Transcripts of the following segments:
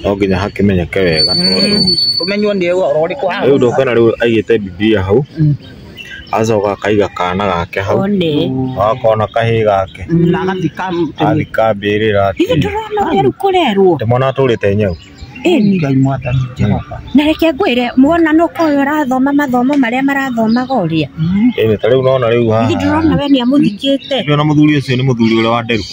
no nginya hakĩmenyeke wega tondũ Ũmenywo nĩ ũhoro ũrĩkũ haha? rĩu ndũkuona rĩu aigĩte bibilia hau acoka akaiga kana gake hau One. akona kahĩĩ gake Na agathika mũtĩ. athika mbĩrĩra Ithe ndũrona ũrĩa rĩu kũrerwo. ndĩmona atũrĩte nyau Ĩni. Ngai mwathani Jehova. Na reke ngwĩre muona nũ ũyũ ũrathoma mathomo marĩa marathomaga ũrĩa. ĩnĩ ta rĩu nona rĩu Ithe haha ndũrona we nĩ amũthikĩte. nĩona mũthuri ũcio nĩ mũthuri ũrĩa wa nderu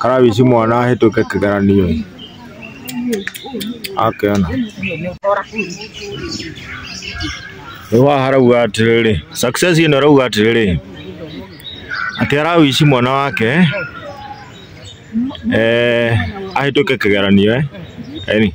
Karabici mwana ahĩtũke kĩgeranio ĩ. Akĩona. Rĩu haha harauga atĩrĩrĩ, success ĩno ĩrauga atĩrĩrĩ, atĩ arawici mwana wake eh, ahĩtũke kĩgeranio eh. Eni.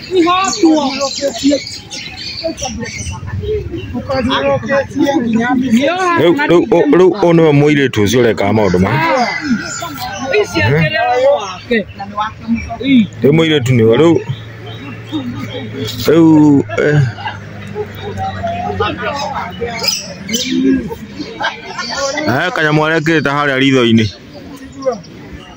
Rĩu rĩu ũ- rĩu ũyũ nĩwe mũirĩtu ũcio ũrekaga maũndũ maya rĩu mũirĩtu nĩwe rĩu rĩu eh, eh, kanyamũ arekĩrĩte harĩa ritho-inĩ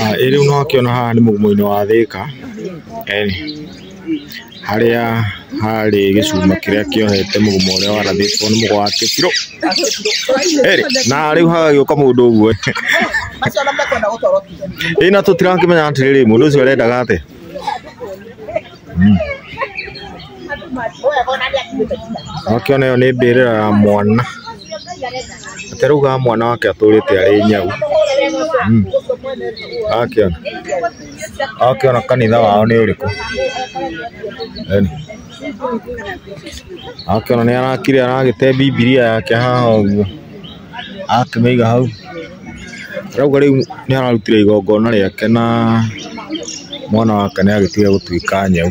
Ah, ĩrĩ no akĩona haha nĩ mũgumo-inĩ wa thĩka Eni. harĩa harĩ gĩcuma kĩrĩa kĩohete mũgumo ũrĩa warathĩtwo nĩ mũgo wa kĩbirũ Eri, na rĩu hagagĩũka mũndũ ũguo ĩna tũtirakĩmenya atĩrĩrĩ mũndũ ũcio arendaga atĩa Wakĩona ĩyo nĩ mbĩrĩra ya mwana ataraugaga mwana wake atũrĩte arĩ nyau Mm. akĩona akĩona kanitha wao nĩ ũrĩkũ Yaani, akĩona nĩ arakire aragĩte bibilia yake haha ũguo akĩmĩiga hau, arauga rĩu nĩ ararutire igongona rĩake na mwana wake nĩ agĩtiga gũtuĩka nyau.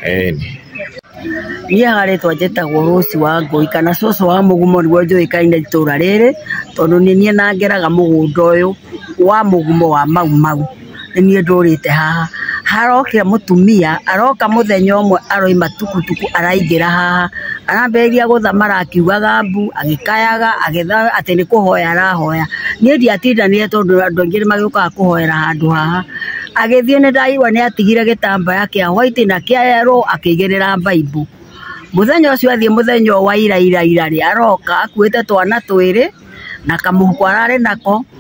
Ĩni. Niĩ haha rĩtwa njĩtagwo Rose wa Ngũi kana cũcũ wa mũgumo nĩguo njũĩkaine itũra rĩrĩ tondũ nĩ niĩ na ngeraga mũgũnda ũyũ wa mũgumo wa Mau Mau. nĩ niĩ ndũrĩte haha, harokire mũtumia aroka mũthenya ũmwe aroima tukutuku araingĩra haha, arambĩrĩria gũthamara akiugaga mbu, agĩkayaga atĩ nĩ kũhoya arahoya, niĩ ndiatindanire tondũ andũ aingĩ nĩ magĩũkaga kũhoera handũ haha, agĩthiĩ nĩ ndaiguire nĩ atigire gĩtambaya kĩa white na kĩa yellow akĩigĩrĩra baibũ, mũthenya ũcio athiĩ mũthenya ũyũ wa ira ira rĩ, aroka akuĩte twana twĩrĩ na kamũhuko ararĩ nako,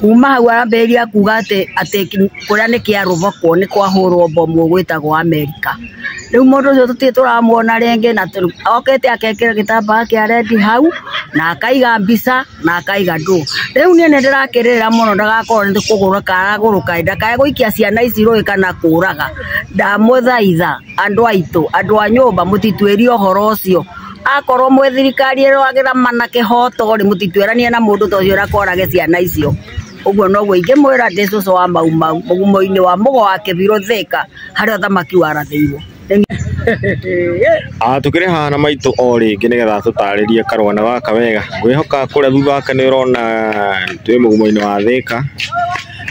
Kuuma hau ambĩrĩria kuuga atĩ atĩ kũrĩa nĩ kĩa Rũboko nĩ kwahũrwo mbomu ĩgwĩtagwo Amerika. Rĩu mũndũ ũcio tũtirĩ tũramuona rĩngĩ na okĩte agekĩra gĩtambaya kĩa rendi hau na akaiga mbica na akaiga ndũ. Rĩu niĩ nĩ ndĩrakĩrĩrĩra mũno ndagakorwo nĩ kũgũrũka aragũrũka ĩ, ndakae gũikia ciana ici rũĩ kana kũũraga. Ndamũthaitha andũ aitũ, andũ a nyũmba mũtituĩrie ũhoro ũcio. akorwo mwĩ thirikari ĩrwagĩra mana kĩhoto rĩ mũtituĩranie na mũndũ ta ũcio ũrakorage ciana icio ũguo noguo ingĩmwĩra ndĩ cũcũ wa mau mau mũgumo-inĩ wa mũgo wa kĩbirũ thĩka harĩa ũthamaki warathĩirwo Ah, tukire hana maitå o rä ngä nä getha tå tarä rie karwana gaka wega ngwä hoka kå rä a thutha wake nä å rona twä må gumo-inä wa thä ka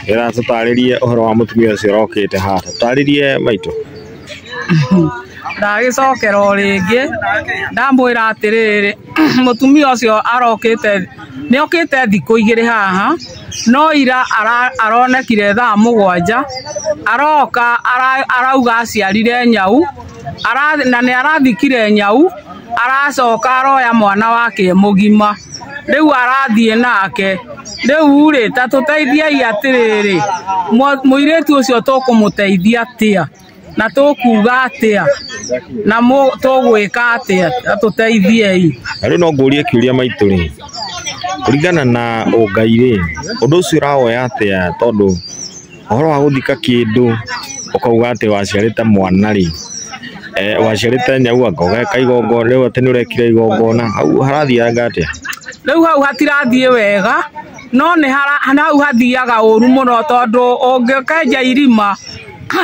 getha tå tarä rie å horo wa må tumia å cio rokä te haha tå tarä rie maitå ndagĩcokera o rĩngĩ ndamwĩra atĩrĩrĩ mũtumia ũcio arokĩte nĩ okĩte thikũ igĩrĩ haha no ira ara- aronekire thaa mũgwanja aroka ara- arauga aciarire nyau ara- na nĩ arathikire nyau aracoka aroya mwana wake e mũgima rĩu arathiĩ nake rĩu rĩ ta tũteithiai atĩrĩrĩ mwa- mũirĩtu ũcio tũkũmũteithia atĩa na tũkuga atĩa na mũ- tũgwĩka atĩa ta tũteithiei Na rĩu no ngũrie kiũria maitũ rĩ kũringana na ũngai rĩ ũndũ ũcio ũrawoya atĩa tondũ Ũhoro wa gũthika kĩndũ ũkauga atĩ waciarĩte mwana rĩ, eh, waciarĩte nyau anga ũgeka igongona rĩu atĩ nĩ ũrekire igongona hau harathianga atĩa? rĩu hau hatirathiĩ wega no nĩ hara- hau hathiaga ũru mũno tondũ ũngĩkenja irima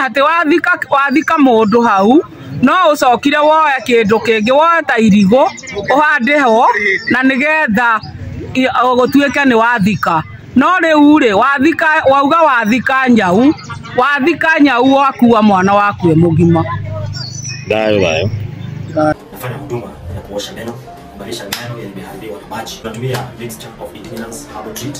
atĩ wathika, wathika mũndũ hau no ũcokire woe kĩndũ kĩngĩ woe ta irigũ ũhande ho na nĩgetha i- o gũtuĩke nĩ wathika no rĩu rĩ wathika wauga wathika nyau wathika nyau wakua mwana waku e mũgima Thayo thayo. kufanya huduma ya kuosha meno, kubadilisha meno yenye imeharibiwa na maji. Tunatumia mixture of ingredients herbal treat